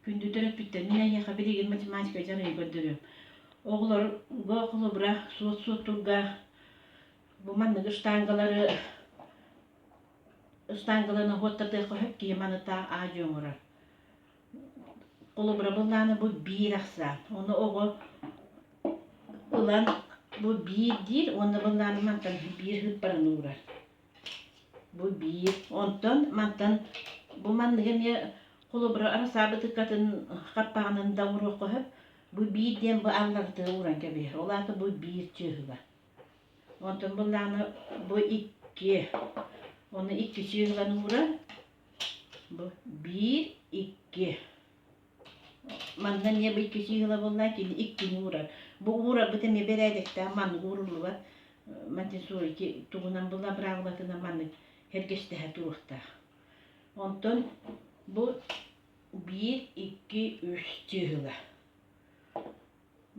Күндү төрөппүттэр, мин эйиэхэ билигин математика дьарыгы көрдөрүөм. Оҕолорго холобура суот-суот турга бу манныгы штангалары штангаланы уоттатыахха сөп киһи маныта аадьы оҥорор. Холобура быллааны бу биир ахсаан. Ону оҕо ылан бу биир диир уонна быллааны мантан биир ыыппаран уурар. Бу биир. Онтон мантан бу манныгы эмиэ холобура арасаабытыкатын хаппаҕынан да уруохха сөп. Бу биир диэн бу алларыты ууран кэбиһэр. Ол аата бу биир чыыһыла. Онтон буллаҕына бу икки. Ону икки чыыһылан ууран бу биир, икки. Манна эмиэ бу икки сиһила буоллаа кини иккини уурар. Бу уурарбыт эмиэ бэрээдэктээх маннык ууруллубат Монтессори тугунан була правилатынан маннык сэргэстэһэ туруохтаах. Онтон бу биир, икки, үс сиһила.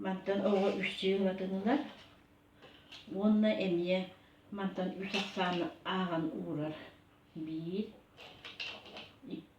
Мантан оҕо үс сиһилатынынан уонна эмиэ мантан үс ахсааны ааҕан уурар. Биир,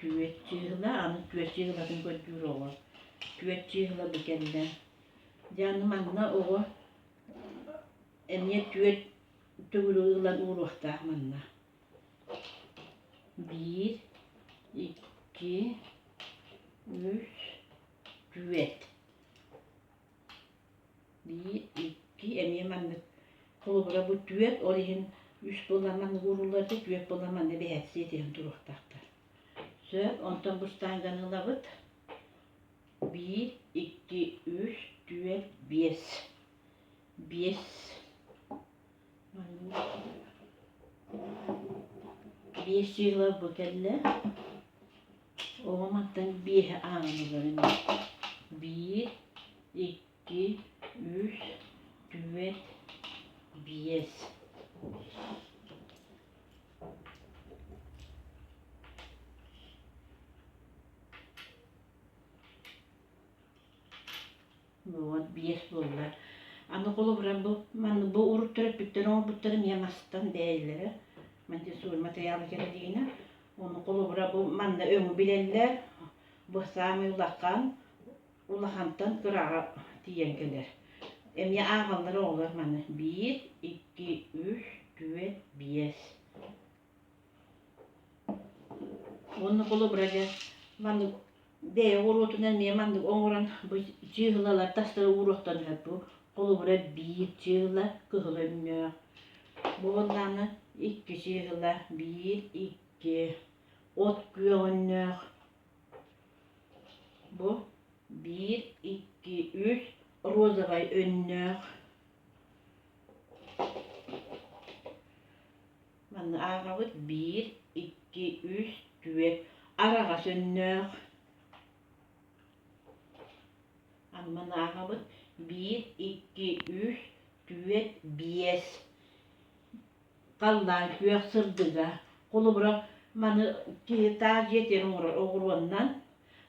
түөрт чыыһыла аны түөрт чыыһылатын көрдүүр оҕо түөрт чыыһыла бу кэллэ дьэ аны манна оҕо эмиэ түөрт төгүрү ылан ууруохтаах манна биир икки үс түөрт Икки эмиэ маннык холобура бу түөрт, ол иһин үс буоламмын ууруллар да түөрт буолан манна бэһээстэс иһэн туруохтаахтар. Сөп, онтон бу штанганы ылабыт. Биир, икки, үс, түөрт, биэс. Биэс. Биэс ила бу кэллэ. оҕом аттан биэһэ аанын ыларым биир икки үс түөрт биэс Вот биэс буолла. Аны холобура бу манна бу уруттар эппиттэр оҥорбуттарын ийэм астан бэйэлэрэ Монтессори матырыйаалы кэрэлиинэ ону холобура бу манна өҥү билэллэр бу саамай улахан улахантан кыраҕа тиийэн кэлэр эмиэ ааҕаллар оҕолор маны биир икки үс түөрт биэс Уонна холобура маннык бэйэ оҕуруотунан эмиэ маннык оҥорон бу чыыһылалар тастары ууруохтан сөп бу холобура биир чыыһыла кыһыл өнньүөх буоллаҕына икки чыыһыла биир икки от күөх өнньөөх бу биир икки үс розовай өнньөөх Манна ааҕабыт биир, икки, үс, түөрт араҕас өннөөх. Аны манна ааҕабыт биир, икки, үс, түөрт, биэс. Халлаан күөх сырдыга. Холобура, маны киһи таас дьиэтигэр оҥорор оҕуруоннан,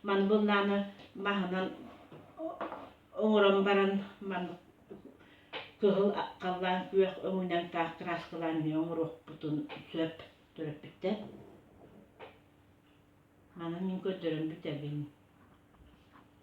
маны былааны маһынан оҥорон баран, маны Кыһыл халлаан күөх өҥүнэн таах кырааскалаан эмиэ оҥоруохпутун сөп төрөппүттэр. Манан мин көрдөрөн бүтэбин